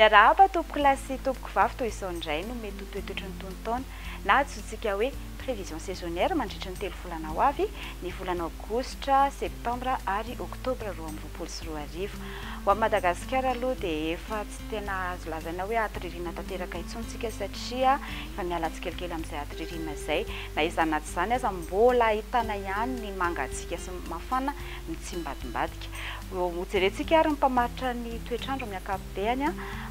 Miarahaba tompoko lahy sy tompoko vavy toa izao indray no mety ho toetoetry ny tonon-taona na antsointsika hoe prévision saisonnière mandritry ny telo volana ho avy, ny volana aogositra, septambra ary oktobra roa amby roapolo sy roa arivo. Ho an'i Madagasikara aloha dia efa. Tsy tena azo lazaina hoe aty ririnina tanteraka intsony isika satria efa miala tsikelikely amin'izay aty ririnina izay. Na izany na tsy izany aza, mbola ahitana ihany ny mangatsiaka sy ny mafana mitsimbadimbadika. Hojerentsika ary ny mpamaritra ny toetr'andro amin'ny ankapobeny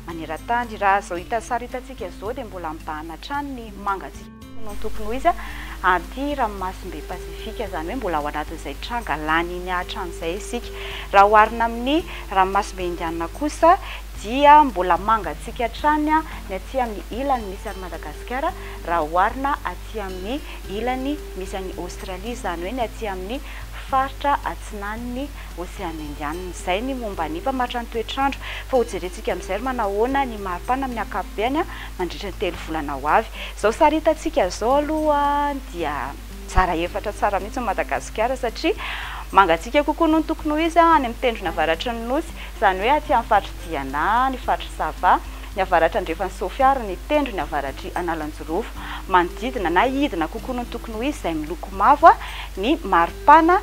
maneran-tany. Raha izao hita sary hitantsika izao dia mbola mibahana hatrany ny mangatsiaka. Hono ny tokony ho izy a! Anty ranomasimbe Pasifika, izany hoe mbola ao anatin'izay tranga lany iny hatramin'izay isika. Raha oharina amin'ny ranomasimbe Indianina kosa dia mbola mangatsiaka hatrany ny aty amin'ny ilany misy an'i Madagasikara raha oharina aty amin'ny ilany misy an'i Aostralia, izany hoe ny aty amin'ny faritra atsinan'ny Oseana Indianina. Izay ny momba ny mpamaritra ny toetr'andro. Fa hojerentsika amin'izay ry manahoana ny maripana amin'ny ankapobeny. mandritra ny telo volana ho avy. Izao sary hitantsika izao aloha dia mizara efatra tsara mihitsy ny Madagasikara satria mangatsiaka kokoa noho ny tokony ho izy any amin'ny tendrony avaratry ny Nosy, izany hoe aty amin'ny faritr'i Diana, ny faritr'i Sava, ny avaratra andrefan'i Sofia ary ny tendrony avaratr'i Analanjirofo. Manodidina na hidina kokoa noho ny tokony ho izy izay miloko mavo ny maripana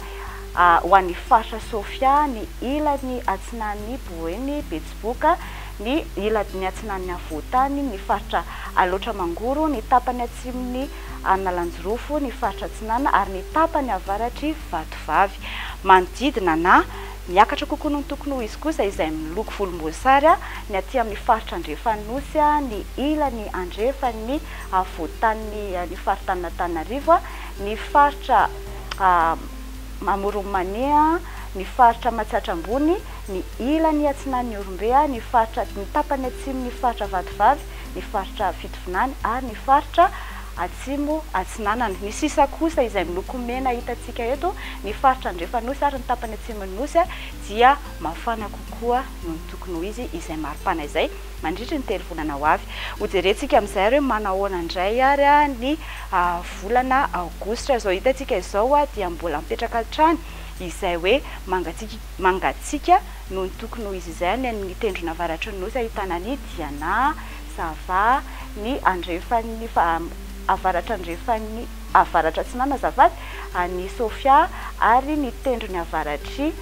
ho an'ny faritra Sofia, ny ilany atsinanin'i Boeny, Betsileo. Betsiboka, ny iladin'ny atsinanan'ny afovoan-tany, ny faritra Alaotra Mangoro, ny tapany atsimon'i Analanjirofo, ny faritra atsinanana ary ny tapany avaratr'i Vatovavy. Manodidina na miakatra kokoa noho ny tokony ho izy kosa izay miloko volomboasary ny aty amin'ny faritra andrefan'ny Nosy, ny ilany andrefan'ny afovoan-tanin'ny ny faritanin'Antananarivo, ny faritra Amoron'i Mania, ny faritra Matsiatra Ambony, ny ilany atsinan'ny Ihorombe, ny faritra ny tapany atsimon'ny faritra Vatovavy, ny faritra Fitovinany ary ny faritra Atsimo Atsinanana. Ny sisa kosa izay miloko mena hitantsika eto, ny faritra Andrefanosy ary ny tapany atsimon'ny Nosy dia mafana kokoa noho ny tokony ho izy izay mari-pana izay mandritry ny telo volana ho avy. Hojerentsika amin'izay ary hoe manahoana indray ary ny volana Aogositra. Izao hitantsika izao dia mbola mipetraka hatrany izay hoe mangatsiaka. Mangatsiaka noho ny tokony ho izy izay any amin' ny tendrona avaratry ny Nosy ahitana an' i Diana, Zava, ny andrefan' ny avaratra-andrefan' ny avaratra-atsinanana, azafady, an' i Sofia, ary ny tendrony avaratr' i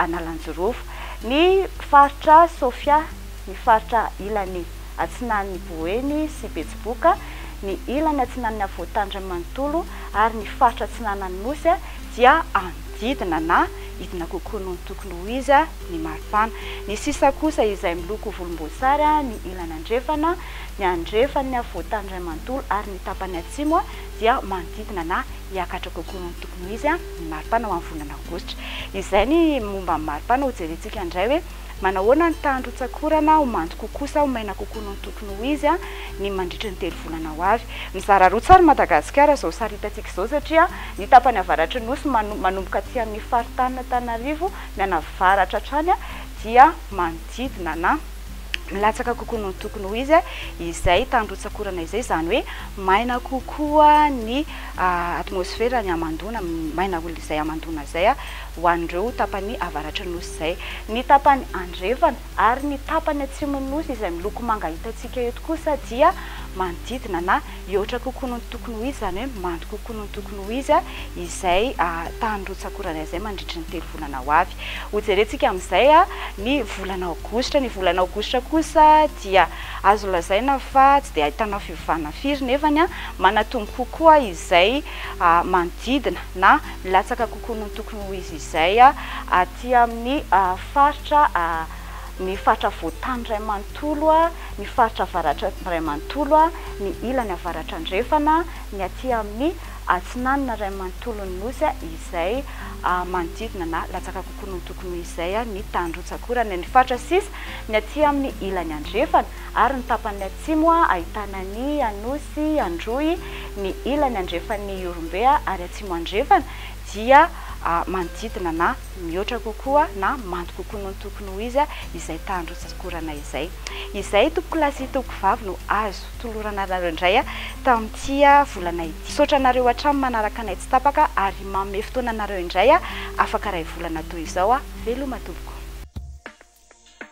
Analanjirofo. Ny faritra Sofia, ny faritra ilan' i atsinanin' i Boeny sy Betsiboka, ny ilany atsinanin' i Afovoantany iray manontolo ary ny faritra atsinanan' ny Nosy dia an. didina na hidina kokoa noho ny tokony ho izy ny maripana. Ny sisa kosa izay miloko volomboasary ny ilany andrefana, ny andrefan' ny afovoan-tany iray manontolo ary ny tapany atsimo dia manodidina na hiakatra kokoa noho ny tokony ho izy ny maripana ho amin'ny volana aogositra. Izay ny momba ny maripana. Hojerentsika indray hoe. Manahoana ny tahan'ny rotsak'orana ho mando kokoa sa ho maina kokoa noho ny tokony ho izy ny mandritry ny telo volana ho avy? Mizara roa tsara i Madagasikara izao saritantsika izao satria ny tapany avaratry ny Nosy manomboka aty amin'ny faritanin'Antananarivo mianavaratra hatrany dia manodidina na milatsaka kokoa noho ny tokony ho izy izay tany rotsak'orana izay, izany hoe maina kokoa ny atmosfera, ny hamandoana maina izay hamandoana izay. ho an'ireo tapany avaratry ny Nosy izay, ny tapany andrefana ary ny tapany atsimon'ny Nosy izay miloko manga hitantsika eto kosa dia manodidina na hihoatra kokoa noho ny tokony ho izy, izany hoe mando kokoa noho ny tokony ho izy izay tany rotsak'orana izay mandritry ny telo volana ho avy. Hojerentsika amin'izay ny volana aogositra, ny volana aogositra kosa dia azo lazaina fa tsy dia ahitana fiovana firy nefany manatombo kokoa izay manodidina na milatsaka kokoa noho ny tokony ho izy izay aty amin'ny faritra ny faritra Afovoantany iray manontolo, ny faritra Avaratra iray manontolo, ny ilany Avaratra Andrefana, ny aty amin'ny Atsinanana iray manontolon'ny Nosy izay manodidina na latsaka kokoa noho ny tokony ho izy izay ny tanin-dRotsakora, ny faritra sisa ny aty amin'ny ilany Andrefana. ary ny tapany atsimo ahitana ny Anosy Androy, ny ilany andrefan'ny Ihorombe ary atsimo andrefana dia manodidina na mihoatra kokoa na mando kokoa noho ny tokony ho izy izay tany rotsak'orana izay. Izay tompokolahy sy tompokvavy no azo tolorana anareo indray tamin'ity volana ity. Misaotra anareo hatrany manaraka anay tsy tapaka ary manome fotoana anareo indray afaka iray volana toy izao. Veloma tompoko.